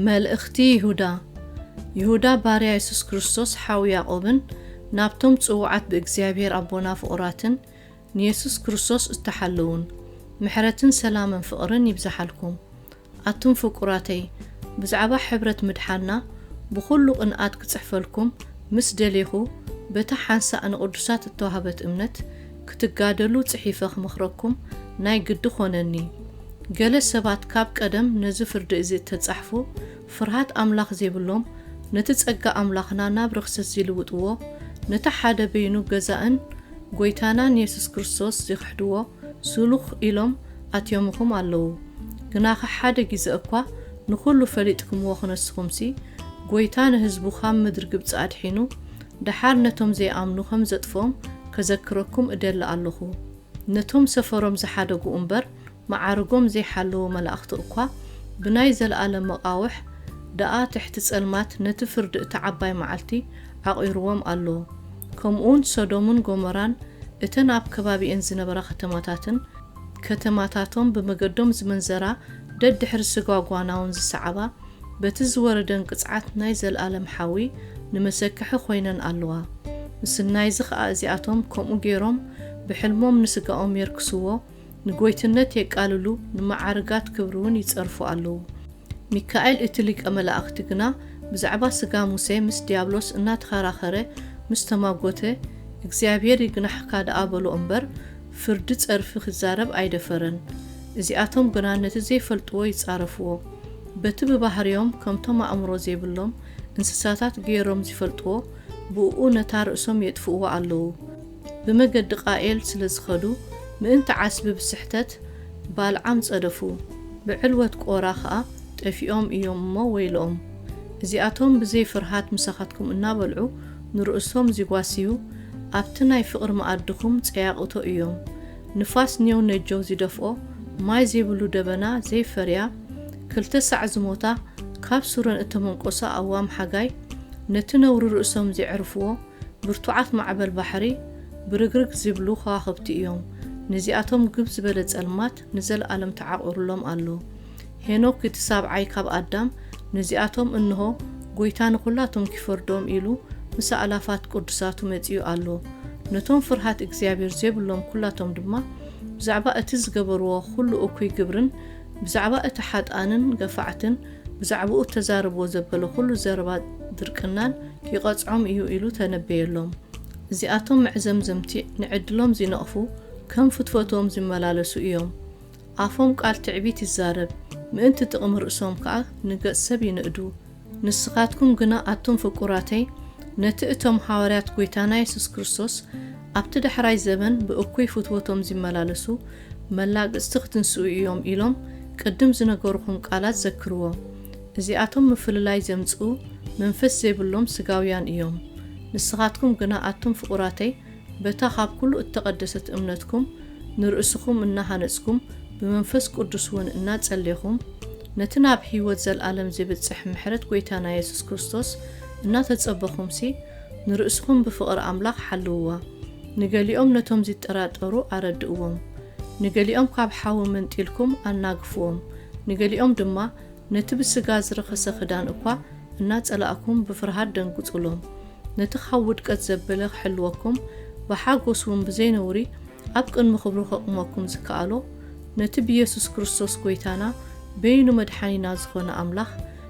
መልእኽቲ ይሁዳ ይሁዳ ባርያ የሱስ ክርስቶስ ሓው ያዕቆብን ናብቶም ጽውዓት ብእግዚኣብሔር ኣቦና ፍቑራትን ንየሱስ ክርስቶስ እተሓለዉን ምሕረትን ሰላምን ፍቕርን ይብዝሓልኩም ኣቱም ፍቁራተይ ብዛዕባ ሕብረት ምድሓና ብኹሉ ቅንኣት ክጽሕፈልኩም ምስ ደሌኹ በታ ሓንሳእ ንቅዱሳት እተዋህበት እምነት ክትጋደሉ ጽሒፈ ክመኽረኩም ናይ ግዲ ኮነኒ ገለ ሰባት ካብ ቀደም ነዚ ፍርዲ እዚ እተጻሕፉ ፍርሃት ኣምላኽ ዜብሎም ነቲ ጸጋ ኣምላኽና ናብ ርኽሰት ዚልውጥዎ ነቲ ሓደ በይኑ ገዛእን ጐይታናን የሱስ ክርስቶስ ዚኽሕድዎ ስሉኽ ኢሎም ኣትዮምኹም ኣለዉ ግናኸ ሓደ ጊዘ እኳ ንኹሉ ፈሊጥክምዎ ክነስኹምሲ ጎይታ ንህዝቡ ኻብ ምድሪ ግብጺ ኣድሒኑ ደሓር ነቶም ዘይኣምኑ ከም ዘጥፍኦም ከዘክረኩም እደሊ ኣሎኹ ነቶም ሰፈሮም ዝሓደጉ እምበር መዓርጎም ዘይሓለዉ መላእኽቲ እኳ ብናይ ዘለኣለም መቓውሕ ደኣ ትሕቲ ጸልማት ነቲ ፍርዲ እታ ዓባይ መዓልቲ ዓቚሩዎም ኣሎ ከምኡውን ሰዶምን ጎመራን እተን ኣብ ከባቢኤን ዝነበራ ከተማታትን ከተማታቶም ብመገዶም ዝምንዘራ ደድሕሪ ስጋ ጓናውን ዝሰዓባ በቲ ዝወረደን ቅጽዓት ናይ ዘልኣለም ሓዊ ንመሰከሒ ኮይነን ኣለዋ ምስናይዚ ከኣ እዚኣቶም ከምኡ ጌሮም ብሕልሞም ንስጋኦም የርክስዎ ንጎይትነት የቃልሉ ንመዓርጋት ክብሪውን ይጸርፉ ኣለዉ ሚካኤል እቲ ሊቀ መላእኽቲ ግና ብዛዕባ ሥጋ ሙሴ ምስ ዲያብሎስ እናተኸራኸረ ምስ ተማጐተ፣ እግዚኣብሔር ይግናሕካ ደኣ በሎ እምበር፣ ፍርዲ ጸርፊ ኺዛረብ ኣይደፈረን። እዚኣቶም ግና ነቲ ዘይፈልጥዎ ይጻረፍዎ። በቲ ብባህርዮም ከምቶም ኣእምሮ ዜብሎም እንስሳታት ገይሮም ዚፈልጥዎ፣ ብእኡ ነታ ርእሶም የጥፍእዋ ኣለዉ። ብመገዲ ቃኤል ስለ ዝኸዱ፣ ምእንቲ ዓስቢ ብስሕተት ባልዓም ጸደፉ፣ ብዕልወት ቆራ ኸኣ ጠፊኦም እዮም እሞ ወይለኦም። እዚኣቶም ብዘይ ፍርሃት ምሳኻትኩም እናበልዑ ንርእሶም ዚጓስዩ፣ ኣብቲ ናይ ፍቕሪ መኣድኹም ጸያቕቶ እዮም። ንፋስ ኔው ነጀው ዚደፍኦ፣ ማይ ዜብሉ ደበና ዘይፈርያ፣ ክልተ ሳዕ ዝሞታ፣ ካብ ሱረን እተመንቈሳ ኣዋም ሓጋይ፣ ነቲ ነውሪ ርእሶም ዜዕርፍዎ፣ ብርቱዓት ማዕበል ባሕሪ ብርግርግ ዚብሉ ኸዋኽብቲ እዮም፣ ነዚኣቶም ግብ ዝበለ ጸልማት ንዘለኣለም ተዓቝሩሎም ኣሎ። ሄኖክ እቲ ሳብዓይ ካብ ኣዳም ነዚኣቶም እንሆ፣ ጐይታ ንዅላቶም ኪፈርዶም ኢሉ ምስ ኣእላፋት ቅዱሳቱ መጺኡ ኣሎ። ነቶም ፍርሃት እግዚኣብሔር ዜብሎም ኵላቶም ድማ ብዛዕባ እቲ ዝገበርዎ ዅሉ እኩይ ግብርን ብዛዕባ እቲ ሓጥኣንን ገፋዕትን ብዛዕባኡ እተዛርብዎ ዘበለ ዅሉ ዘረባ ድርቅናን ኪቐጽዖም እዩ ኢሉ ተነበየሎም። እዚኣቶም መዕዘምዘምቲ፣ ንዕድሎም ዚነቕፉ፣ ከም ፍትወትኦም ዚመላለሱ እዮም። ኣፎም ቃል ትዕቢት ይዛረብ፣ ምእንቲ ጥቕሚ ርእሶም ከኣ ንገጽ ሰብ ይንእዱ። ንስኻትኩም ግና ኣቱም ፍቁራተይ፣ ነቲ እቶም ሃዋርያት ጐይታና የሱስ ክርስቶስ ኣብቲ ዳሕራይ ዘበን ብእኩይ ፍትወቶም ዚመላለሱ፣ መላግጽቲ ክትንስኡ እዮም ኢሎም ቅድም ዝነገሩኹም ቃላት ዘክርዎ። እዚኣቶም ምፍልላይ ዘምጽኡ መንፈስ ዘይብሎም ስጋውያን እዮም። ንስኻትኩም ግና ኣቱም ፍቑራተይ በታ ካብ ኩሉ እተቐደሰት እምነትኩም ንርእስኹም እናሃነጽኩም ብመንፈስ ቅዱስውን እናጸሌኹም ነቲ ናብ ሕይወት ዘለዓለም ዜብጽሕ ምሕረት ጐይታና የሱስ ክርስቶስ እናተጸበኹምሲ ንርእስኹም ብፍቕሪ ኣምላኽ ሓልውዋ። ንገሊኦም ነቶም ዚጠራጠሩ ኣረድእዎም። ንገሊኦም ካብ ሓዊ መንጢልኩም ኣናግፍዎም። ንገሊኦም ድማ ነቲ ብስጋ ዝረኸሰ ክዳን እኳ እናጸላእኩም ብፍርሃት ደንግጹሎም። ነቲ ኻብ ውድቀት ዘበለ ኺሕልወኩም፣ ብሓጐስውን ብዘይ ነውሪ ኣብ ቅድሚ ኽብሩ ኼቝመኩም ዚከኣሎ፣ ነቲ ብየሱስ ክርስቶስ ጐይታና በይኑ መድሓኒና ዝዀነ ኣምላኽ፣